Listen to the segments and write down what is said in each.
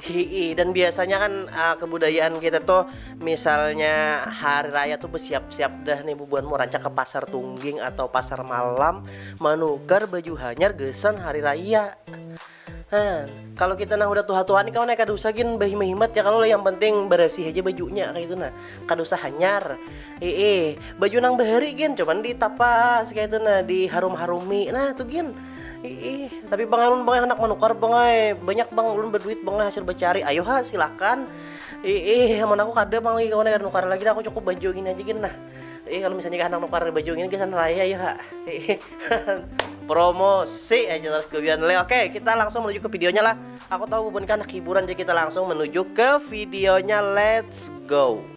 Hii, dan biasanya kan uh, kebudayaan kita tuh misalnya hari raya tuh bersiap-siap dah nih bubuan mau rancak ke pasar tungging atau pasar malam manukar baju hanyar gesan hari raya. Nah, kalau kita nah udah tua-tua nih kau naik kada usah gin behimat ya kalau yang penting bersih aja bajunya kayak itu nah kada usah hanyar ee baju nang bahari gin cuman ditapas kayak itu nah diharum-harumi nah tuh gin Iih, tapi bang alun bang hendak menukar bang ay. Banyak bang ulun berduit bang hasil bercari. Ayo ha, silakan. Iih, aman aku kada bang lagi kawan kada nukar lagi dah aku cukup baju ini aja gin nah. Iih, kalau misalnya hendak nukar baju ini gasan raya ayo ha. Iih, promosi aja terus kebian le. Oke, kita langsung menuju ke videonya lah. Aku tahu bukan anak hiburan jadi kita langsung menuju ke videonya. Let's go.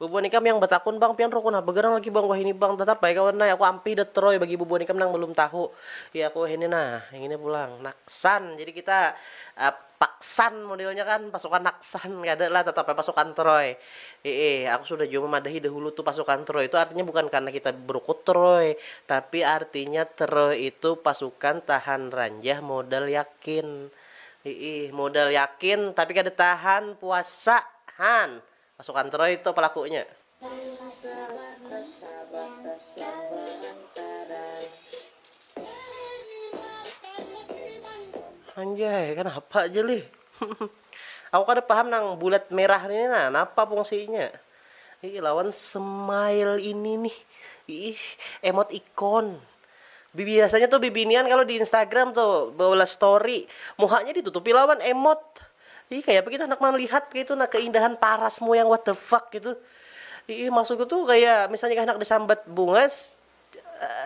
Bubuhan ikam yang batakun bang, pian rukun ha bagarang lagi bang wahini bang, tatap ai kawan ai aku ampih dah troy bagi bubuhan ikam nang balum tahu, ya aku wahini nah ngini pulang, naksan jadi kita paksan modelnya kan pasukan naksan kada lah tatap ai pasukan troy, hiih aku sudah jua mamadahi dahulu tu pasukan troy tu artinya bukan karna kita barukut troy, tapi artinya troy itu pasukan tahan ranjah modal yakin, hiih modal yakin tapi kada tahan puasa han. Pasukan Troy to pelakunya. Di masalah persahabatan selama lantaran Dari mata negeri Bandung. Anjay, kanapa ja lih. Aku kada paham nang bulat merah ini nah, napa pungsinya. Iih lawan smile ini nih. Iih emot ikon. Biasanya tuh bibinian kalo di Instagram tuh beulah story, muhanya ditutupi lawan emot. Ih kaya apa gitu handak malihat kaya itu nah keindahan parasmu yang what the fuck gitu. Iih maksudku tuh kaya misalnya kaya handak disambat bungas,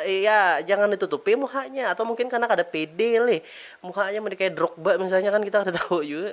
ya jangan ditutupi muhanya atau mungkin karena kada pede lih muhanya mun dikaya drogba misalnya kan kita kada tahu jua.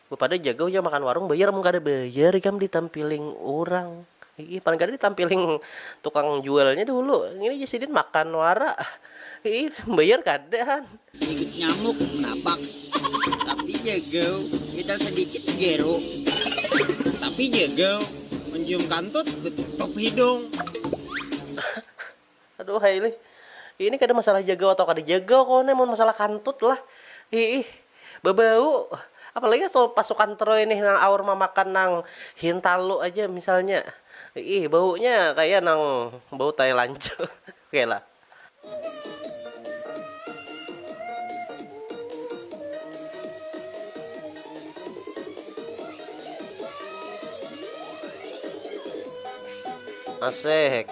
Bapadah ja gauh jar makan warung bayar mun kada bayar ikam ditampiling urang hiih paling kada ditampiling tukang jualnya dahulu ngini ja sidin makan wara hiih bayar kada han. Digigit nyamuk napak tapi ja gauh mital sadikit digeru tapi ja gauh mencium kantut ditutup hidung. Aduhai lih. Ini kada masalah jagau atau kada jagau kawan ai, mun masalah kantut lah. Iih. Babau. Apalagi pas pas sukan teroy nih nang aur mamakan nang hintalu aja misalnya. Iih, baunya kaya nang bau tai lancu. Oke lah. Asehek.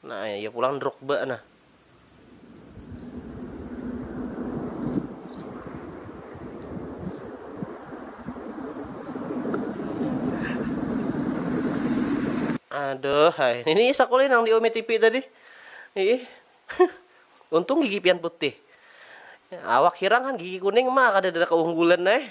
Nah, ya pulang Drogba nah. Aduh, hai. Ini sakulih nang di Umi TV tadi. Ih. Untung gigi pian putih. Awak hirang kan gigi kuning mah kada ada keunggulan eh.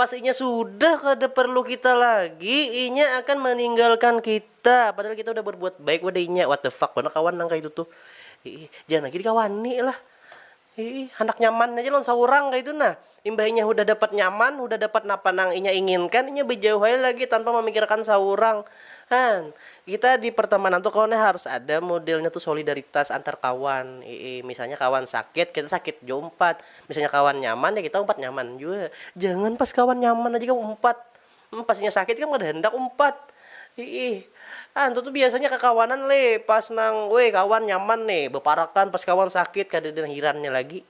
Pas inya sudah kada parlu kita lagi, inya akan maninggalkan kita, padahal kita udah barbuat baik pada inya. What the fuck banar kawan nang kaitu tuh. Iih, jangan lagi dikawani lah. Iih, handak nyaman haja lawan saurang kaitu nah. Imbah inya hudah dapat nyaman, hudah dapat napa nang inya inginkan, inya bajauh ai lagi tanpa mamikirakan saurang. Han, kita di pertamanan tuh kawan ai harus ada modelnya tuh solidaritas antar kawan. Iih, misalnya kawan sakit, kita sakit jua umpat. Misalnya kawan nyaman ya kita umpat nyaman jua, jangan pas kawan nyaman aja ikam umpat, hmm pas inya sakit ikam kada handak umpat, hiih antu tu biasanya kakawanan leh pas nang weh kawan nyaman ne baparakan pas kawan sakit kadada nang hirannya lagi,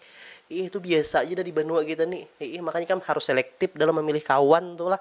hiih tu biasa ja dah di banua kita ni, hiih makanya ikam harus selektif dalam mamilih kawan tu lah.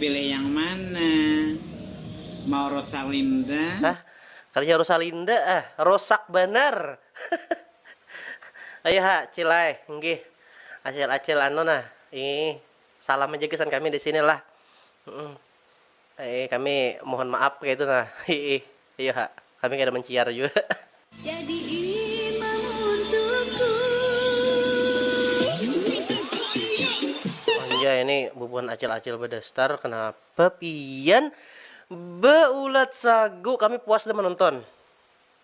Pilih yang mana? Mau Rosalinda? Hah? Kalinya Rosalinda ah, rosak banar. Ayu ha, cil ai, nggih. Acil-acil anu nah, ii, salam aja gasan kami di sini lah. Eih kami mohon maap kaitu nah hiih iyo ha kami kada manciar jua. Anjay ini bubuhan acil acil badastar kenapa pian beulat sagu kami puas dah menonton.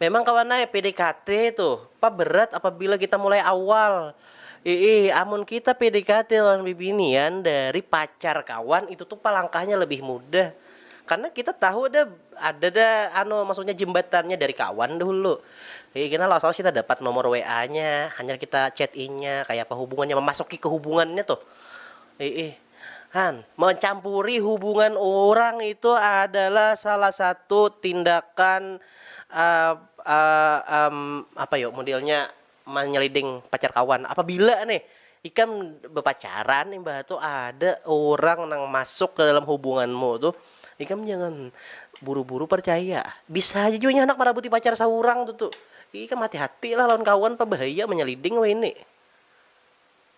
Memang kawan ai PDKT itu pa berat apabila kita mulai awal. Iih, amun kita PDKT lawan bibinian dari pacar kawan itu tu pa langkahnya lebih mudah. Karena kita tahu ada ada dah anu maksudnya jembatannya dari kawan dahulu. Iih kena lawas lawas kita dapat nomor WA-nya, hanyar kita chat inya kayapa hubungannya, memasuki ke hubungannya tuh. Iih. Han. Mencampuri hubungan urang itu adalah salah satu tindakan apa yu modelnya menyeliding pacar kawan. Apabila nih ikam bepacaran imbah tu ada urang nang masuk ke dalam hubunganmu tu, ikam jangan buru-buru percaya. Bisa haja jua nya handak merabuti pacar saurang tu tu. Ikam hati-hatilah lawan kawan pah bahaya menyeliding wahini.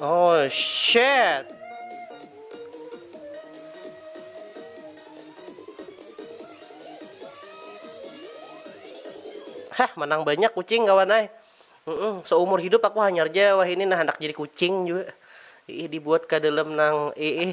Oh shit. Hah, menang banyak kucing kawan ay. Mm-mm, seumur hidup aku hanyar aja wah ini nah hendak jadi kucing juga. Ih, dibuat ke dalam nang ih.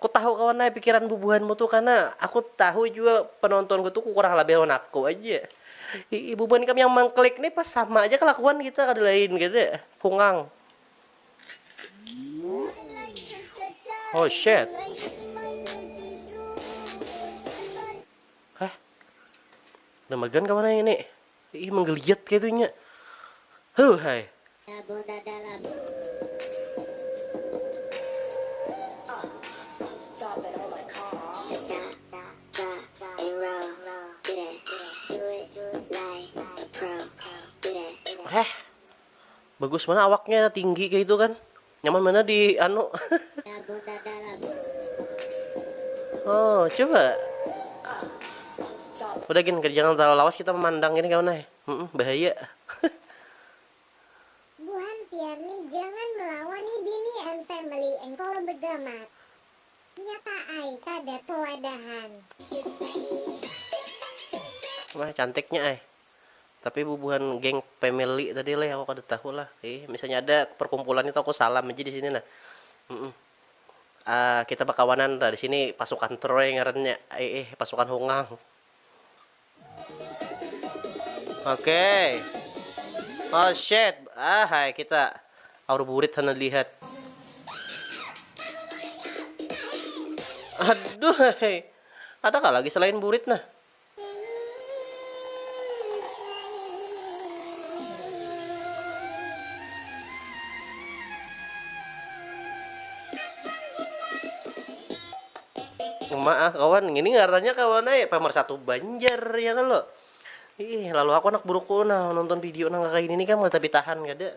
Kutahu kawan ai pikiran bubuhanmu tu kana, aku tahu jua penontonku tu kurang labih lawan aku aja. Iih bubuhan ikam yang mangklik ni pas sama aja kelakuan kita kada lain kada, kungang. Oh shit. Hah? Namagan kawan ai ngini. Iih menggeliat kaitu inya. Huh hai. Dabul dada lah. Heh. Bagus banar awaknya tinggi kaitu kan. Nyaman mana di anu? oh, coba. Udah gini, jangan terlalu lawas kita memandang ini kawan eh. bahaya. Buhan Piarni jangan melawani bini and family engkol begamat. Nyata ai kada toladahan. Wah, cantiknya eh. Tapi bubuhan geng family tadi leh aku kada tahu lah ih misalnya ada perkumpulan itu aku salam aja di sini nah ah kita bakawanan tah di sini pasukan troy ngarannya iih pasukan hungang oke oh shit ah hai kita aur burit hana lihat aduh hai ada kah lagi selain burit nah Uma ah kawan, ngini ngarannya kawan ai pemersatu Banjar ya kalo. Ih, lalu aku anak buruku nah nonton video nang kakaini ni kam kada tapi tahan kada.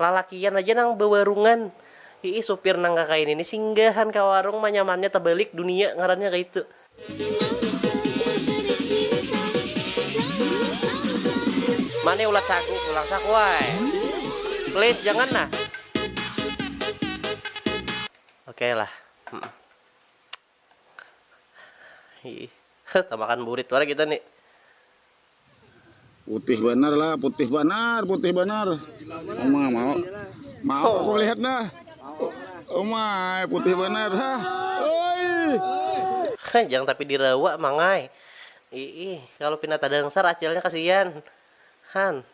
Lalakian aja nang bawarungan. Iih supir nang kakaini ni singgahan ka warung manyamannya tabalik dunia ngarannya kaitu. Ma ni ulat sagu pulang sakuai. Please jangan nah. Oke lah. Tamakan burit wara kita ni. Putih banar lah, putih banar, putih banar. Oma mau. Mau aku lihat dah. Oma, putih banar. Ha. Oi. Jangan tapi dirawa mangai. Ih, kalau pina tadangsar acilnya kasihan. Han.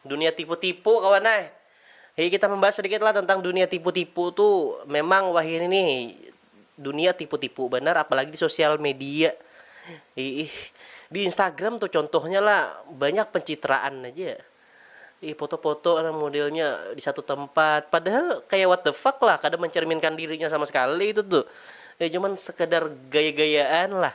Dunia tipu-tipu kawan ai. Jadi kita membahas sedikit lah tentang dunia tipu-tipu tu memang wahini ni dunia tipu-tipu banar apalagi di sosial media iih di instagram tu contohnya lah banyak pencitraan aja ih foto-foto lah modelnya di satu tempat padahal kayak what the fuck lah kada mencerminkan dirinya sama sekali itu tu eh cuman sekadar gaya-gayaan lah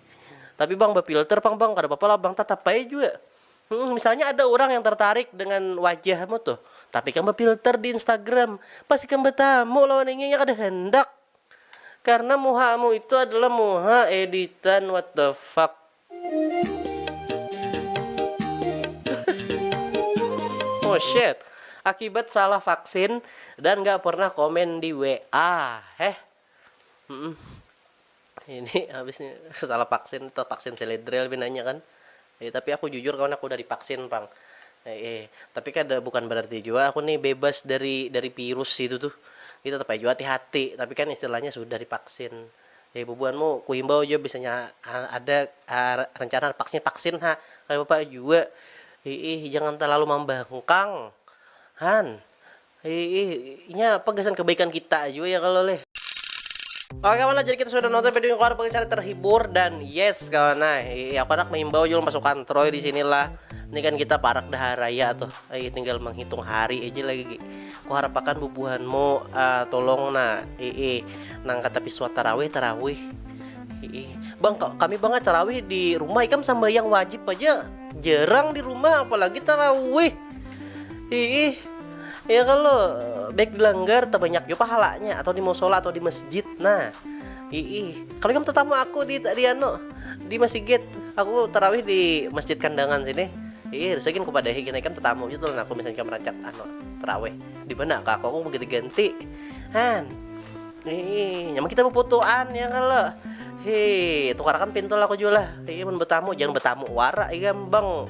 Tapi bang befilter pang bang, kada apa-apa lah bang tatap ai jua. Hmm, misalnya ada orang yang tertarik dengan wajahmu tuh, tapi ikam befilter di Instagram, pas ikam betamu lawan inya inya kada handak. Karena muhamu itu adalah muha editan what the fuck. Oh shit. Akibat salah vaksin dan gak pernah komen di WA. Heh. ini habis nih salah vaksin atau vaksin seledrel binanya kan eh, tapi aku jujur kawan aku udah divaksin pang eh, eh tapi kan bukan berarti juga aku nih bebas dari dari virus itu tuh kita tetap juga hati-hati tapi kan istilahnya sudah divaksin eh bubuanmu ku himbau aja biasanya ada uh, rencana vaksin vaksin ha kayak bapak juga eh, eh jangan terlalu membangkang han Hiih, inya apa gasan kebaikan kita jua ya kalau leh. Oke kawan nah, jadi kita sudah nonton video yang keluar pengen terhibur dan yes kawan nah, iya aku anak mengimbau juga pasukan Troy di sinilah. Ini kan kita parak dah raya tuh, iya tinggal menghitung hari aja lagi. Ku harapakan bubuhanmu uh, tolong nah, iya nang kata piswa tarawih tarawih. Iya. Bang, kami banget tarawih di rumah ikam sambayang wajib aja jarang di rumah apalagi tarawih. Iih, ya kalo baik di langgar tabanyak jua pahalanya atau di musola atau di masjid nah. Iih, kalo ikam tatamu aku di di anu di masigit, aku tarawih di masjid kandangan sini. Iih, harusnya gin kupadahi gin ikam tatamu ja tu lawan aku misalnya ikam rancak anu tarawih di mana ka aku, aku mau ganti-ganti. Han. Iih, nyaman kita baputuan ya kalo. Hii, tukarakan pintul aku jua lah. Iih, mun batamu jangan batamu wara ikam bang.